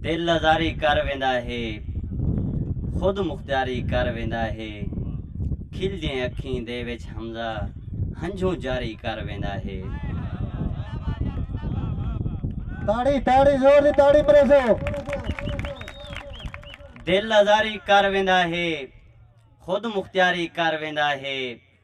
دل آزاری کر ویندا ہے خود مختیاری کر ویندا ہے کھلدیں اکھیں دے وچ حمزہ ہنجھوں جاری کر ویندا ہے۔ دل آزاری کر ویندا ہے خود مختیاری کر ویندا ہے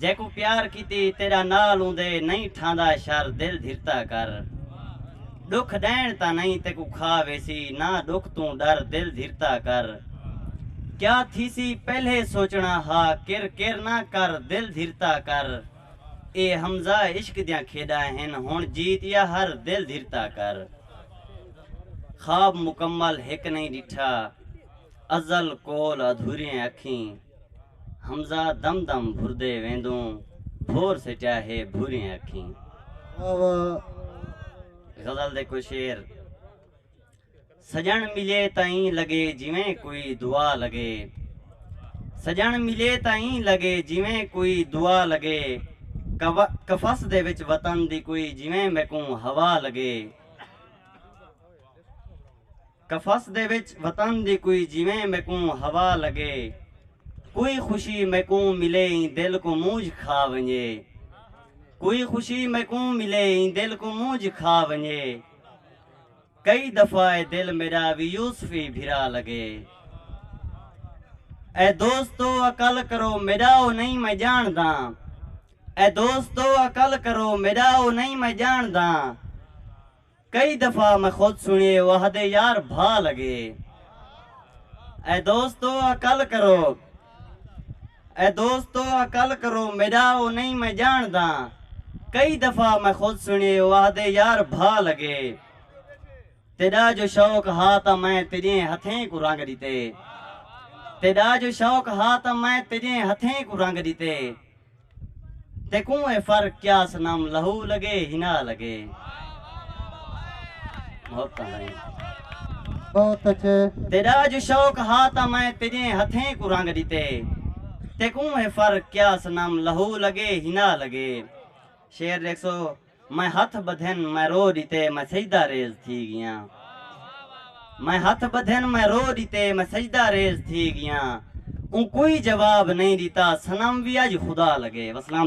جیکوں پیار کیتی تیڈا نال اوندے نئیں ٹھاندا شر دل دھرتا کر ڈکھ ڈین تاں نئیں تیکوں کھا ویسی نا ڈکھ توں ڈر دل دھرتا کر کیا تھیسی پہلے سوچنا ہا کر کر نا کر دل دھرتا کر اے حمزہ عشق دیاں کھیڈا ہن ہن جیت یا ہر دل دھرتا کر خواب مکمل ہک نئیں ڈٹھا ازل کول ادھوریں اکھیں۔ حمزہ دم دم بھردے ویندوں بھور سٹیا ہے بھوریاں اکھیں۔ واہ واہ۔ غزل دے کوئی شعر سجݨ ملے تاں ایں لڳے جیویں کوئی دعا لڳے سجݨ ملے تاں ایں لڳے جیویں کوئی دعا لڳے قفس دے وچ وطن دی کوئی جیویں میکوں ہوا لڳے۔ قفس دے وچ وطن دی کوئی جیویں میکوں ہوا لگے کوئی خوشی میکوں ملے ایں دل کوں مونجھ کھا ونجے کوئی خوشی میکوں ملے ایں دل کوں مونجھ کھا ونجے کئی دفعہ اے دل میڈا وی یوسفی بھرا لگے اے دوستو عقل کرو میڈا او نئیں میں جانڑداں اے دوستو عقل کرو میڈا او نئیں میں جانڑداں۔ کئی دفعہ میں خود سنڑیے او آہدے یار بھا لگے اے دوستو عقل کرو اے دوستو عقل کرو میڈا او نئیں میں جانڑداں کئی دفعہ میں خود سنڑیے او آہدے یار بھا لگے تیڈا جو شوق ہا تاں میں تیڈیں ہتھیں کوں رنگ ڈتے تیڈا جو شوق ہا تاں میں تیڈیں ہتھیں کوں رنگ ڈتے تیکوں اے فرق کیا صنم لہو لگے حنا لگے محبتاں سائیں بہت اچھے تیڈا اج شوق ہا تاں میں تیڈیں ہتھیں کوں رنگ ڈتے تیکوں اے فرق کیا صنم لہو لگے حنا لگے شعر ڈیکھ سو میں ہتھ ٻدھن میں رو ݙتے میں سجدہ ریز تھی ڳیاں میں ہتھ ٻدھن میں رو ݙتے میں سجدہ ریز تھی ڳیاں اوں کوئی جواب نئیں ݙتا صنم وی اڄ خدا لڳے وسلام